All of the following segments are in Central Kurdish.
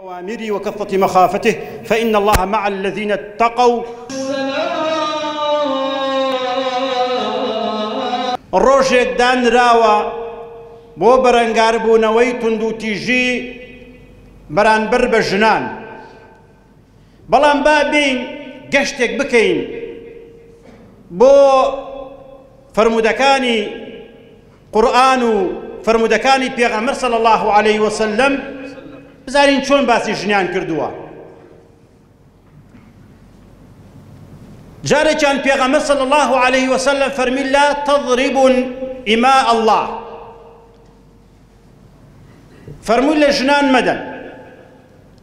اوامری و کفت مخافته فان الله مع الذین اتقوا ڕۆژێک دانراوە بۆ بەرەنگاربوونەوەی توندوتیژی بەرانبەر بە ژنان بەڵام با بین گەشتێک بکەین بۆ فرموودەکانی قورئان و فەرموودەکانی پێغەمبەر صلی اللە علیه وسلم بزانین چۆن باسی ژنیان کردووە جارێکیان پێغەمبەر صلی اللە علیه وسلم فەرمی لا تضرب اما الله فەرمووی لە ژنان مەدەن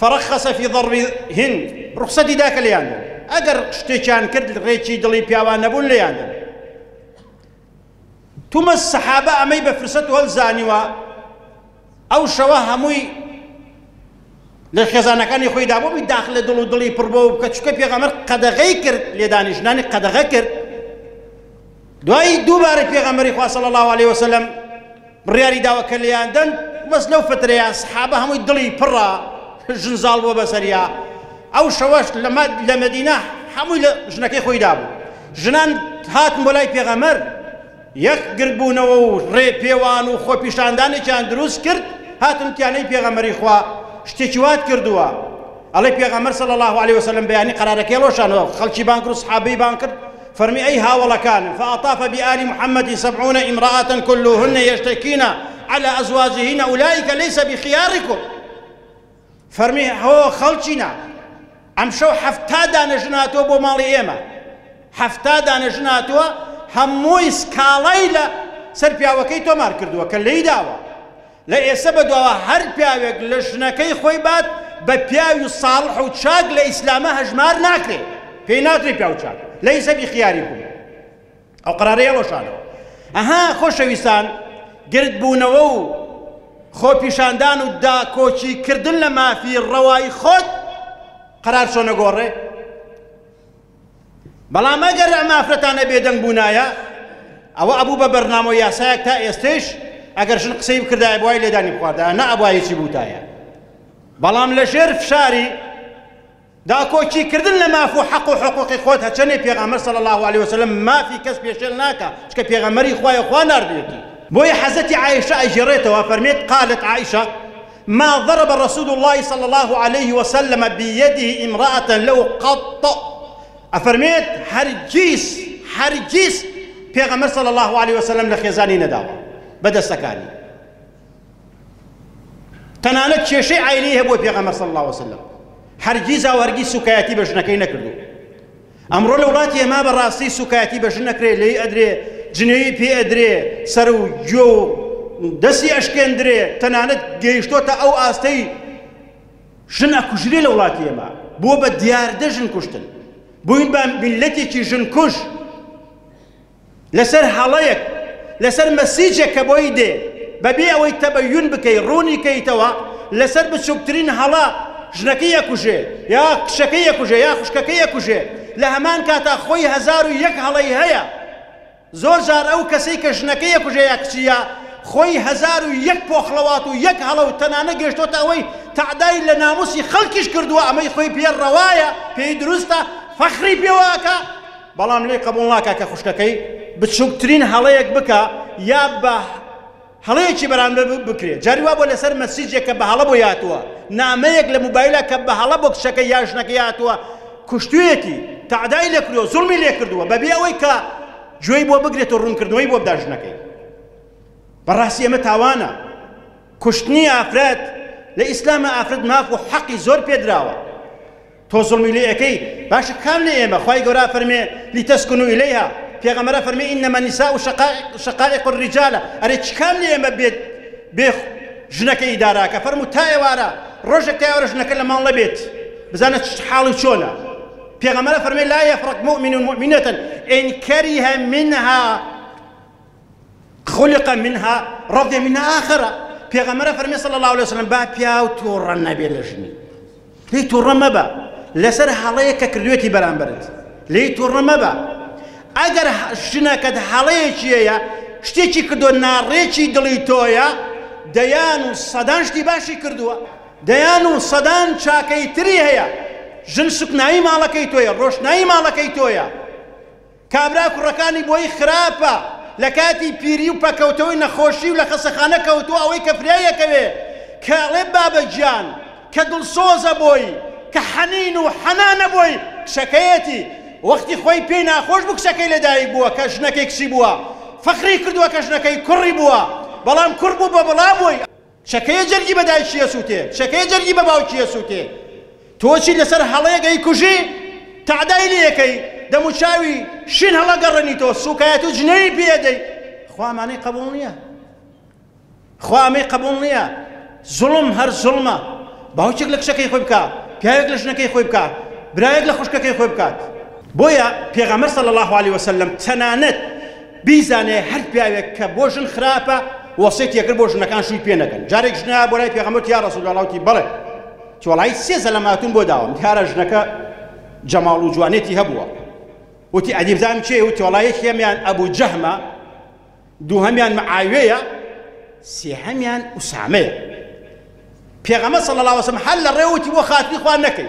فرخص فی ضرب هن ڕوخسەتی دا کە لێیان دەن ئەگەر شتێکیان کرد ڕێکی دڵی پیاوان نەبوون لێیان دەن تومەز سەحابە ئەمەی بە فرسەت وەل زانیوە ئەو شەوە هەمووی لە خێزانەکانی خۆی دابووی داخل لە دڵ و دڵی پڕبەوە بکە چکە پێغەمەر قەدەغەی کرد لێدانیشنانی قەدەغە کرد دوایی دووبارە پێغەمبەری خوا صلی اللە علیە وسلم بڕیاری داوە کە لێیان دەن بەس لەو فترەیە سەحابە هەمووی دڵی پڕە ژن زاڵ بووە بەسەریا ئەو شەوەش لە مەدینە هەمووی لە ژنەکەی خۆی دابوو ژنان هاتن بۆ لای پێغەمەر یەک گردبوونەوە و ڕێ پێوان و خۆپیشاندانێکیان دروست کرد هاتن تیانەی پێغەمەری خوا شتێکی وات کردووە ئەڵێ پێغەمەر صلی الله عليه وسلم بەیانی قرارەکەی ڕۆشانەوە خەڵکی بانکرد و سحابەی بان کرد فەرمی ئەی هاوەڵەکانم، فاطاف بآل محمد سبعون امرأة کلهن یشتکین علی ازواجهن اولئک لیس بخیارکم، فەرمی هۆ خەڵکینە ئەمشەو حەفتا دانە ژن هاتووە بۆ ماڵی ئێمە، حەفتا دانە ژن هاتووە هەمووی سکاڵای لە سەر پیاوەکەی تۆمار کردووە کە لێی داوە، لە ئێسە بەدواوە هەر پیاوێک لە ژنەکەی خۆی بات بە پیاوی ساڵح و چاک لە ئیسلامە هەژمار ناکرێ پێی ناترێ پیاو چاک لەیسە بیخیاریکم ئەو قرارەیە ڕۆشانەوە ئەها خۆشەویستان گردبوونەوە و خۆپیشاندان و داکۆکی کردن لە مافی ڕەوای خۆت قرار چۆنە گۆڕێ بەڵام ئەگەر ئەم ئافرەتانە بێدەنگ بوونایە ئەوە ئەبوو بە بەرنامە و یاسایەک تا ئێستش ئەگەر ژن قسەی بکردایە بۆی لێدانی بخواردایە نە ئەبایەکی بووتایە بەڵام لە ژێر فشاری داکۆکی کردن لە ماف و حەق و حقوقی خۆت هەچەنێ پێغەمبەر صلی الله علیه وسلم مافی کەس پێشێل ناکە چکە پێغەمبەری خوایە خوا ناردوێتی بۆیە حەزەتی عائشە ئەگێڕێتەوە فەرمێت قالت عائشە ما ضرب رسول اللە صلی اللە علیە وسلم بیده امرأة له قط ئەفەرمێت هەرگیز هەرگیز پێغەمبەر صلی اللە علیە وسلم لە خێزانی نەداوە بە دەستەکانی تەنانەت کێشەی عینی هەبووە پێغەمبەر صلی اللە علیە وسلم هەرگیز ئەو هەرگیز سوکایەتی بە ژنەکەی نەکردو ئەمڕۆ لە وڵاتی ئێمە بە ڕاستی سوکایەتی بە ژن ئەکرێ لێی ئەدرێ جنێوی پێ ئەدرێ سەر و گوێ و دەستی ئەشکێندرێ تەنانەت گەیشتۆتە ئەو ئاستەی ژن ئەکوژرێ لە وڵاتی ئێمە بۆ بە دیاردە ژن کوشتن بووین بە میلەتێکی ژن کوژ لەسەر هەڵەیەک لەسەر مەسیجێک کە بۆی دێ بەبێ ئەوەی تەبەیون بکەی ڕوونی کەیتەوە لەسەر بچووکترین هەڵە ژنەکەی یەکوژێ یا کچەکەی یەکوژێ یا خوشکەکەی یەکوژێ لە هەمان کاتا خۆی هەزار و یەک هەڵەی هەیە زۆر جار ئەو کەسەی کە ژنەکەی یەکوژێ یا کچیە خۆی هەزار و یەک پۆخڵەوات و یەک هەڵە و تەنانە گەشتۆتە ئەوەی تەعدای لە ناموسی خەڵکیش کردووە ئەمەی خۆی پێ ڕەوایە پێی دروستە فەخری پێواکە بەڵام لێی قەبوڵ ناکا کە خوشکەکەی بچوکترین هەڵەیەک بکا یا بە هەڵەیەکی بەرامبەر بکرێ جاری وا بوە لەسەر مەسیجێک کە بە هەڵە بۆی هاتوە نامەیەک لە موبایلە کە بە هەڵە بۆ کچەکەی یا ژنەکەی هاتوە کوشتویەتی تەعدای لێ کردوە زوڵمی لێ کردوە بەبێ ئەوەی کە گوێی بۆ بگرێت و ڕوونکردنەوەی بۆ بدا ژنەکەی بەڕاستی ئەمە تاوانە کوشتنی ئافرەت لە ئیسلامە ئافرەت ماف و حەقی زۆر پێدراوە تۆ زوڵمی لێ ئەکەی باشە کام لە ئێمە خوای گەورە ئەفەرمێ لیتەسکونو ئیلەیها پێغەمبەر ئەفەرمێ انما النساء شقائق شقائق الرجال ئەرێ چ کام لە ئێمە بێت بێ ژنەکە ئیداراکە فەرموو تا ئێوارە ڕۆژێک تا ئێوارە ژنەکە لە ماڵ نەبێت بزانە چ حاڵی چۆنە پێغەمبەر ئەفەرمێ لا يفرق مؤمن مؤمنة ان كره منها خلق منها رضی منها آخرە پێغەمەرە فەرمی صلی الله علیه وسلم با پیاو توڕە نەبێ لە ژنی لی توڕە مەبە لەسەر هەڵەیە کە کردوێتی بەرامبەرت لی توڕە مەبە ئەگەر ژنەکەت هەڵەیەکیەیە شتێکی کردو ناڕێکی دڵی تۆیە دەیان و سەدان شتی باشی کردووە دەیان و سەدان چاکەی تری هەیە ژن سکنایی ماڵەکەی تۆیە ڕۆشنایی ماڵەکەی تۆیە کابرا کوڕەکانی بۆی خراپە لەکاتی پیری و پەکەوتەوەی نەخۆشی و لەخەسەخانە کەوتوە ئەوەی کە فرێ یەکەوێ کە ئەڵێ بابە گیان کە دڵسۆزە بۆی کە حەنین و حەنانە بۆی کچەکەیەتی وەختی خۆی پێی ناخۆش بوو کچەکەی لەدایک بووە کە ژنەکەی کچی بووە فەخری کردوە کە ژنەکەی کوڕی بووە بەڵام کوڕ بوو بە بڵا بۆی چەکەیە جەرگی بە دایکی ئەسووتێ، چەکەیە جەرگی بە باوکی ئەسووتێ. تۆ چی لەسەر هەڵەیەک ئەیکوژی، تەعدای لێ ئەکەی، دەموچاوی شین هەڵئەگەڕێنیتەوە، سووکایەتی و جنێوی پێ ئەدەی. خوا ئەمانەی قەبووڵ نییە. خوا ئەمەی قەبووڵ نییە. زوڵم هەر زوڵمە. باوکێک لە کچەکەی خۆی بکا، پیاوێک لە ژنەکەی خۆی بکا، برایەک لە خوشکەکەی خۆی بکات. بۆیە پێغەمبەر صلی اللە علیە وسلم تەنانەت بیزانێ هەر پیاوێک کە بۆ ژن خراپە وەسێتی یەکرد بۆ ژنەکان شووی پێ نەکەن جارێک ژنە بۆ لای پێغەمبەر یا رسول الله وتی بەڵێ تۆڵای سێ زەلەماتون بۆ داوم دیارە ژنەکە جەماڵ و جوانێتی هەبووە وتی ئەدیبزانم چێ و تۆڵای یەکێمیان ئەبوو جەهمە دووهەمیان معاوێیە سێهەمیان ئوسامەیە پێغەمە صلی الله وسلم هەر لە ڕێوتی بۆ خاتری خوان نەکەی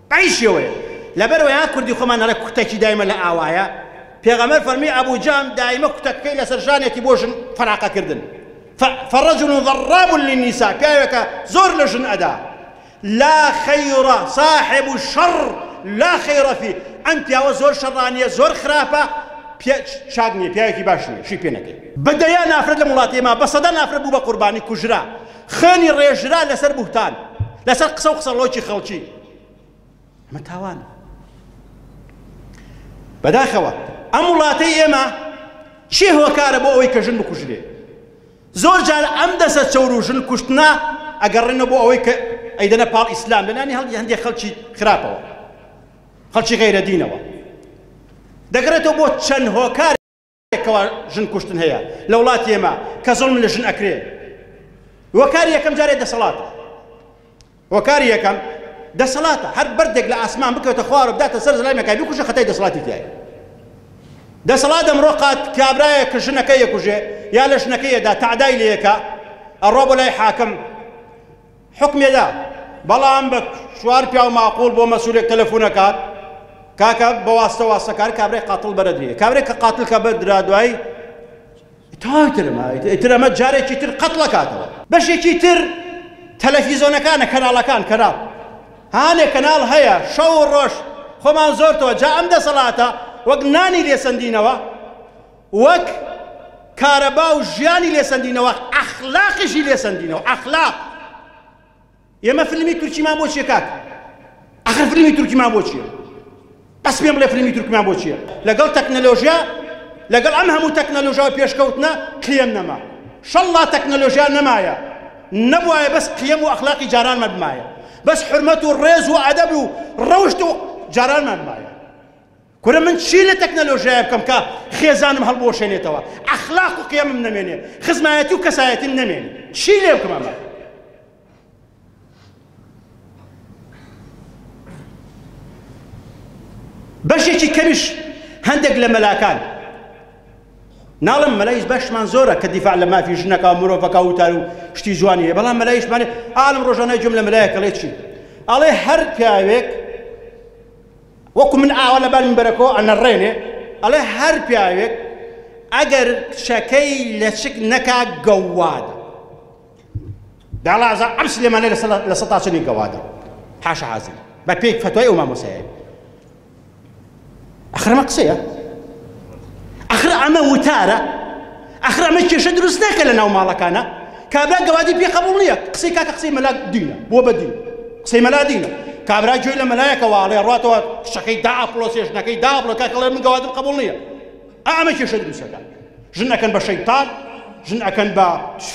ئەی شێوەیە لەبەرئەوەی ها کوردی خۆمان ئەڵێ کوتەکی دایمە لە ئاوایە پێغەمبەر فەرمی ئەبو جەهم دایمە کوتەکەی لەسەر شانێتی بۆ ژن فەراقە کردن ف فەڕەجول ضراب للنساء پیاوێکە زۆر لە ژن ئەدا لا خیرە صاحب الشر لا خیرە فی ئەم پیاوە زۆر شەڕانیە زۆر خراپە چاک نیە پیاوێکی باش نیە شی پێ نەکەی بە دەیان ئافرەت لەم وڵاتەی ما بە سەدان ئافرەت بوو بە قوربانی کوژرا خوێنی ڕێژرا لەسەر بوهتان لەسەر قسە و قسەڵۆکی خەڵکی ئەمە تاوانە بەداخەوە ئەم وڵاتەی ئێمە چی هۆکارە بۆ ئەوەی کە ژن بکوژرێ زۆر جار ئەم دەسە چەور و ژن کوشتنا ئەگەڕێنە بۆ ئەوەی کە ئەیدەنە پاڵ ئیسلام لەلانی هەڵی هەندێک خەڵکی خراپەوە خەڵکی غەیرە دینەوە دەگەڕێتەوە بۆ چەند هۆکار کەوا ژن کوشتن هەیە لە وڵات ئێمە کە زڵم لە ژن ئەکرێ وەکار یەکەم جارێ دەسەڵات وەکار یەکەم دەسەڵاتە هەر بەردێک لە ئاسمان بکەوتە خوارە بداتە سەر زلای مەکای بکوشە خەتای دەسەڵاتی تایە دەسەڵات ئەمڕۆ قات کابرایە کە ژنەکە یەکوژێ یا لە ژنەکەیەدا تەعدای لەیەکە ئەڕۆ بۆ لای حاکم حوکمێ دا بەڵام بە چوار پیاو ماقول بۆ مەسولێک تەلەفونە کات کاکە بەواستە واستەکار کابرای قاتل بەرەدرێ کابرێک کە قاتل کە بەدرا دوای تاوی ترمایت تر ئەمە جارێکی تر قەتڵە کاتەوە بەشێکی تر تەلەفیزۆنەکانە کەناڵەکان کەناڵ هانێ کەناڵ هەیە شەو ڕۆژ خۆمان زۆرتەوە جا ئەم دەسەڵاتە وەک نانی لێسەندینەوە وەک، کارەبا و ژیانی لێ سەندینەوە، ئەخلاقیشی لێ سەندینەوە، ئەخلاق! ئێمە فلمی تورکیمان بۆ چیە کاک؟ ئەخر فلمی تورکیمان بۆ چیە؟ بەس پێم بڵێ فلمی تورکیمان بۆ چیە؟ لەگەڵ تەکنەلۆژیا لەگەڵ ئەم هەموو تەکنەلۆژیا و پێشکەوتنە قیەم نەما. شەڵڵا تەکنەلۆژیا نەمایە، نەبوایە بەس قیەم و ئەخلاقی جارانمان بمایە، بەس حورمەت و ڕێز و ئەدەب و ڕەوشت و جارانمان بمایە. کورە من چی لە تەکنەلۆژیایە بکەم کە خێزانم هەڵبوەشێنێتەوە، ئەخلاق و قیەمم نەمێنێ، خزمایەتی و کەسایەتیم نەمێنێ، چی لێ بکەم ئەمە؟ بەشێکی کەمیش هەندێک لە مەلاکان ناڵم مەلایش بەشمان زۆرە کە دیفاع لە مافی ژنەکە و مرۆڤەکە وتار و شتی جوانی هەیە بەڵام مەلایشمانێ ئالم ڕۆژانای جم لە مەلایە کەڵێ چی ئەڵێ هەر پیاوێک وەکو من ئاوا لەبەر منبەرەکەوە ئەنەڕێنێ ئەڵێ هەر پیاوێک ئەگەر کچەکەی لەچک نەکا گەووادە داڵازە ئەم سلێمانە لە سەتاچنی گەوادە حاشا حازر بە پێی فتوای ئەو مامۆسایە ئەخرمە قسەیە ئەخر ئەمە وتارە ئاخر ئەمە کێشە دروست ناکە لە ناو ماڵەکانا کابرا گەوادی پێ قبول نییە قسەی کاکە قسەی مەلا دینە بۆ بە دین قسەی مەلا دینە کابرا گوێی لە مەلایەکە واڵێ ڕاتەوە قشەکەی دا ئەپڵۆ سێشنەکەی دا ئەپڵۆ کاکە ڵێ من گەوادم قبول نییە ئەمە کێشە دروستەکە ژن ئەکەن بە شەیتان ژن ئەکەن بە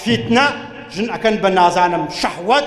فیتنە ژن ئەکەن بە نازانم شەحوەت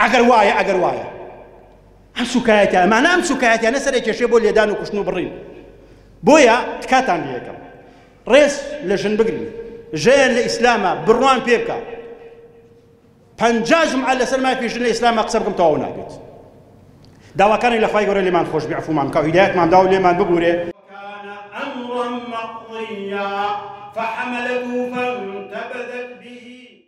ئەگەر وایە ئەگەر وایە ئەم سوکایەتە ئەمانە ئەم سوکایەتیانە سەرێک کێشێ بۆ لێدان و کوشتن و بڕین بۆیە تکاتان لەکەم ڕێز لە ژن بگرن ژیان لە ئیسلامە بڕوان پێ بکە پەنجاژم عە لەسەر مای پێشن لە ئیسلامە قسە بکەم تەواو نابێت داواکانی لە خخوای گەۆرە لێمان خۆش بێعفومان کە هیدایەتمان داو لێمان ببورێ فحملته فانتبذت به